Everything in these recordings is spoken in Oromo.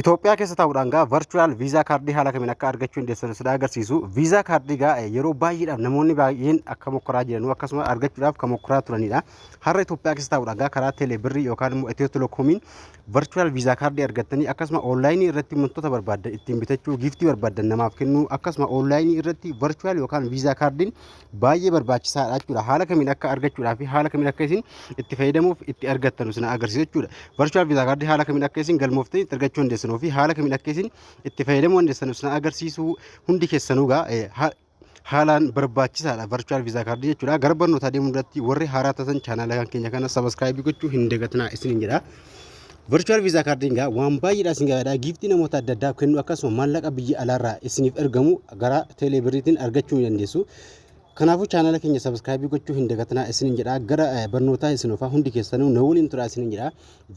Itoophiyaa keessa taa'uudhaan gaa virtual visa kaardii haala kamiin akka argachuu dandeessan sida agarsiisu. Visa kaardii gaa yeroo baay'eedhaaf namoonni baay'een akka mokkoraa jiranuu akkasuma argachuudhaaf kan mokkoraa turanidha. Har'a Itoophiyaa keessa taa'uudhaan gaa karaa teelee birrii yookaan immoo Itiyoo Telekoomiin virtual visa kaardii argattanii akkasuma onlaayinii irratti wantoota barbaaddan ittiin bitachuu giiftii barbaaddan namaaf kennuu akkasuma onlaayinii irratti virtual yookaan visa kaardiin baay'ee barbaachisaadha jechuudha. Haala kamiin akka argachuudhaa fi haala kamiin akka isin itti fayyadamuuf itti argattan isin agarsiisa jechuudha. Virtual Visa Card haala kamiin akka isin galmooftee itti argachuu dandeessanuu fi haala kamiin akka isin itti fayyadamuu dandeessan isin agarsiisuu hundi keessanuu gaa eh, ha- haalaan barbaachisaadha virtual visa card jechuudha. Gara barnootaa deemuu irratti warri haaraa taatan chaanaala keenya kana subscribe gochuu hin dagatinaa isiniin jedha. Virtual Visa Card egaa waan baay'eedha isin gargaara. Giiftii namoota adda addaa kennu akkasuma maallaqa biyya alaarraa isiniif ergamu gara teelee birriitiin argachuu ni dandeessu. Kanaafuu chaanala keenya sabiskiraayibii gochuu hin dagatinaa isiniin jedha. Gara eh, barnootaa isin ofaa hundi keessanuu na waliin turaa isiniin jedha.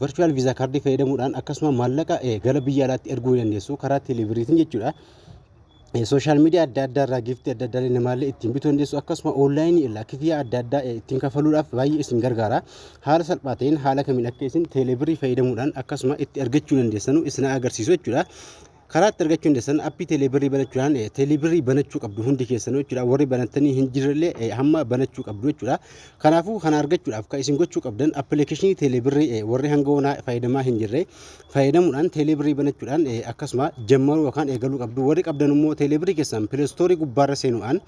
Virtual Visa Card fayyadamuudhaan akkasuma maallaqa eh, gara biyya alaatti erguu ni dandeessu karaa teelee birriitiin jechuudha. sooshaal miidiyaa adda addaa irraa giiftii adda addaa namaallee ittiin bituu dandeessu akkasuma oonlaayinii irraa kifiyyaa adda addaa ittiin kafaluudhaaf baay'ee isin gargaara haala salphaa ta'een haala kamiin akka isin teeleebirrii fayyadamuudhaan akkasuma itti argachuu dandeessanu isin agarsiisu jechuudha. karaa itti argachuu dandeessan appii teeleebirrii banachuudhaan teeleebirrii banachuu qabdu hundi keessanuu jechuudha warri banattanii hin jirrellee hamma banachuu qabdu jechuudha kanaafuu kana argachuudhaaf kan isin gochuu qabdan appilikeeshinii teeleebirrii warri hanga onaa fayyadamaa hin jirre Fayyadamuudhaan teeleebirrii banachuudhaan akkasuma jammaruu yookaan eegaluu qabdu. Warri qabdan immoo teeleebirrii keessan pileestoorii gubbaarra seenuudhaan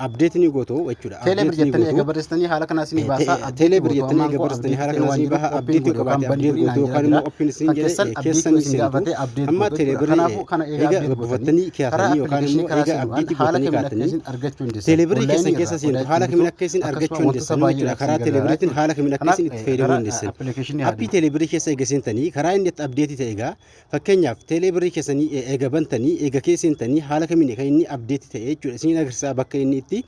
abdeetii ni gootu jechuudha. Teeleebirrii jettanii eega barreessitanii haala kanaa isinii baasa. Teeleebirrii jettanii eega barreessitanii haala kanaa isinii baha. Abdeetii qabaate abdeetii gootu yookaan immoo oppiin isin jedhe keessan ni seentu. Amma teeleebirrii eega buufattanii kaatanii yookaan immoo eega abdeetii gootanii kaatanii argachuu dandeessan. Teeleebirrii keessan keessa seentu haala kamiin akka isin argachuu dandeessan jechuudha. Karaa teeleebirriitiin haala kamiin akka isin itti fayyadamuu dandeessan. Appii teeleebirrii keessa eega seentanii karaa inni itti abdeetii ta'e egaa fakkeenyaaf teeleebirrii keessanii eega bantanii eega kee seentanii haala kamiin kan inni abdeetii ta'e jechuudha. Isin agarsiisaa bakka inni itti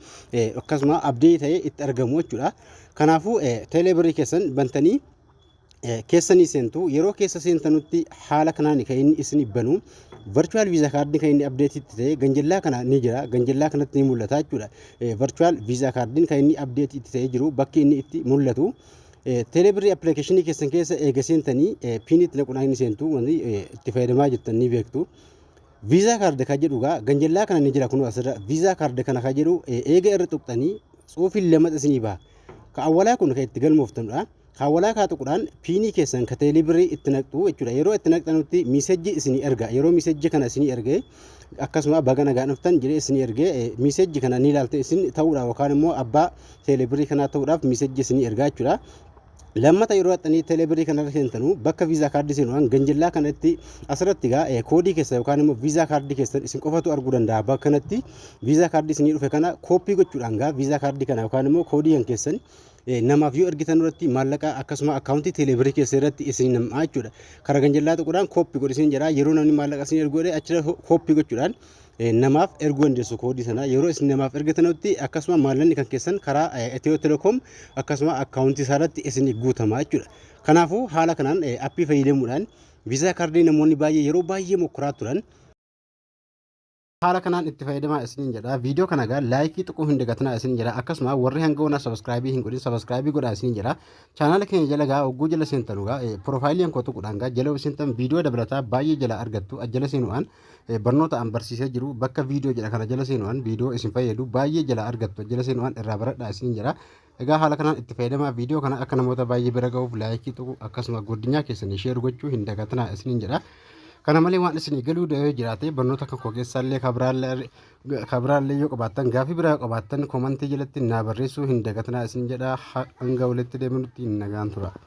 akkasuma abdeetii ta'e itti argamu jechuudha. Kanaafuu teeleebirrii keessan bantanii keessa ni seentu. Yeroo keessa seentanutti haala kanaan kan inni isin banu virtual visa card kan inni update itti ta'e ganjallaa kana ni jira. Ganjallaa kanatti ni mul'ata jechuudha. Virtual visa card kan inni update itti ta'e jiru bakki inni itti mul'atu. Teeleebirrii appilikeeshinii keessan keessa eega seentanii piinitti naquudhaan ni seentu wanti itti fayyadamaa jirtan ni beektu. Viizaa kaarda kan jedhu egaa ganjallaa kana ni jira kunuu asirra viizaa kaarda kana kan jedhu eega irra tuqxanii tsuufiin lamata isinii baha. Ka awwalaa kun kan itti galmooftanudha. Kaawwalaa kaa tuqudhaan piinii keessan ka teeleebirrii itti naqxu jechuudha. Yeroo itti naqxanutti miisejji isinii erga. Yeroo miisejji kana isinii erge akkasuma baga nagaan dhuftan jedhee isinii erge miisejji kana ni ilaaltu isin ta'uudha yookaan immoo abbaa teeleebirrii kanaa ta'uudhaaf miisejji isinii ergaa jechuudha. Lammata yeroo haxxanii teeleebirrii kanarra seentanu bakka viizaa kaardii seenuudhaan ganjillaa kanatti asirratti egaa koodii keessan yookaan immoo viizaa kaardii keessan isin qofatu arguu danda'a bakka kanatti viizaa kaardii isinii dhufe kana kooppii gochuudhaan egaa viizaa kaardii kana yookaan immoo koodii kan keessan namaaf yoo ergitan irratti maallaqa akkasuma akkaawuntii teeleebirii keessa irratti isin nam'aa jechuudha. Karaa ganjallaa tuquudhaan kooppi godhi isin jedha. Yeroo namni maallaqa isin ergu godhe achirra kooppi gochuudhaan namaaf erguu dandeessu koodii sana. Yeroo isin namaaf ergitanutti akkasuma maallaqni kan keessan karaa Itiyoo Telekoom akkasuma akkaawuntii isaa irratti isin guutama jechuudha. Kanaafuu haala kanaan appii fayyadamuudhaan viizaa kaardii namoonni baay'ee yeroo baay'ee mokkoraa turan haala kanaan itti fayyadamaa isiniin jedha viidiyoo kana gaa laayikii tuquu hin dagatinaa isiniin jedha akkasuma warri hanga wanaa sabiskiraayibii hin godhin sabiskiraayibii godhaa isiniin jedha chaanaala keenya jala gaa ogguu jala seentanu gaa piroofaayiliin koo tuquudhaan gaa jala seentan viidiyoo dabalataa baay'ee jala argattu ajjala seenu'aan barnoota an barsiisee jiru bakka viidiyoo jedha kana jala seenu'aan viidiyoo isin fayyadu baay'ee jala argattu ajjala seenu'aan irraa baradhaa isiniin jedha Egaa haala kanaan itti fayyadamaa viidiyoo kana akka namoota baay'ee bira ga'uuf laayikii tuqu akkasuma godinyaa keessanii sheer gochuu hin dagatinaa isiniin jedha. Kana malee waan isinii galuu da'ee jiraate barnoota kan koo keessaallee kabiraallee yoo qabaattan gaafii biraa yoo qabaattan komantii jalatti naa barreessuu hin dagatinaa isiniin jedha hanga walitti deebinutti nagaan tura.